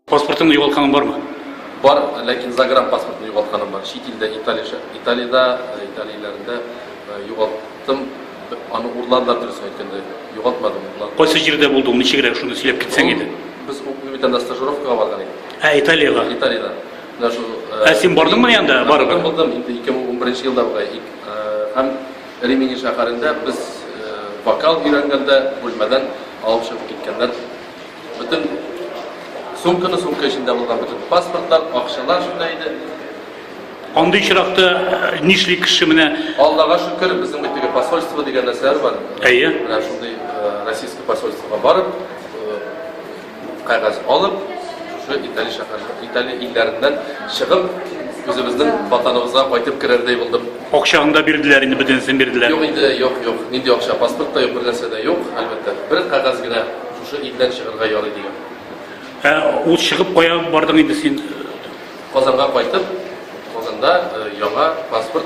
Паспортыңны югалтканың бармы? Бар, ләкин загран паспортны югалтканым бар. Чит илдә Италия, Италиядә, э, Италияләрендә э, югалттым. Аны урладылар дөрес әйткәндә. Югалтмадым. Кайсы җирдә булдың? Ничегрәк шуны сөйләп китсәң иде. Без Уклимитанда стажировкага барган идек. Ә Италиягә? Италиядә. Менә шул. Э, ә син бардыңмы анда барып? Булдым, булдым. Инде 2011 елда була. Һәм Римини шәһәрендә без вокал өйрәнгәндә бүлмәдән алып чыгып киткәннәр бөтен сумканы, сумка эчендә булган бөтен паспортлар, акчалар шунда иде. Андый очракта э, нишли кеше менә? Аллага шөкер, безнең бит теге посольство дигән нәрсәләр бар. Әйе. Менә шундый э, российский посольствога барып, Кәгазь алып, шушы Итали шәһәр, Итали илләреннән чыгып, үзебезнең ватаныбызга кайтып керердәй булдым. Акчаны да бирделәр инде, бөтенесен бирделәр. Юк инде, юк, юк. Нинди акча? Паспорт та юк, бер нәрсә дә юк, әлбәттә. Бер кәгазь генә шушы илдән чыгарга ярый дигән. Ә ул чыгып кая бардың инде син? Казанга кайтып, Казанда э, яңа паспорт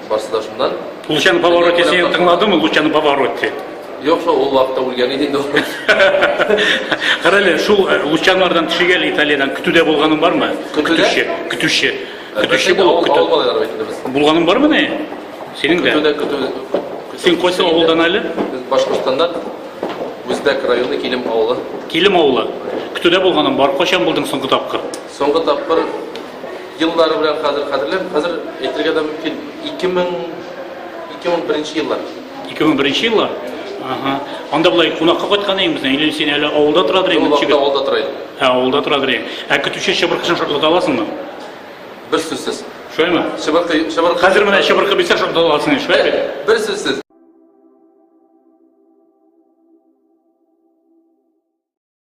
Барсыдашымнан. Лучано Паваротти сине тыңладымы, Лучано Паваротти? Юк, шул ул вакытта үлгән иде инде. Карале, шул э, Лучанлардан төшегәл Италиядән көтүдә булганың бармы? Көтүче, көтүче. Көтүче булып көтү. Булганың бармы ни? Синең дә. Көтүдә көтү. Син кайсы авылдан әле? Башкортстаннан. Үзбәк районы Килем авылы. Килем авылы. Көтүдә булганың бар. Кайчан булдың соңгы тапкыр? Соңгы тапкыр еллары белән хәзер хәтерләмим, хәзер әйтергә дә мөмкин, 2000 2001 еллар. 2001 еллар? Ага. Анда болай кунакка кайткан идеңме? Или син әле авылда тора идең? Ул вакытта авылда тора идем. Ә авылда тора идең. Ә көтүче чыбыркышын шартлата аласыңмы? Бер сүзсез. Шулаймы? Чыбыркы, чыбыркы. Хәзер менә чыбыркы бирсә шартлата аласың, шулай бит? Бер сүзсез.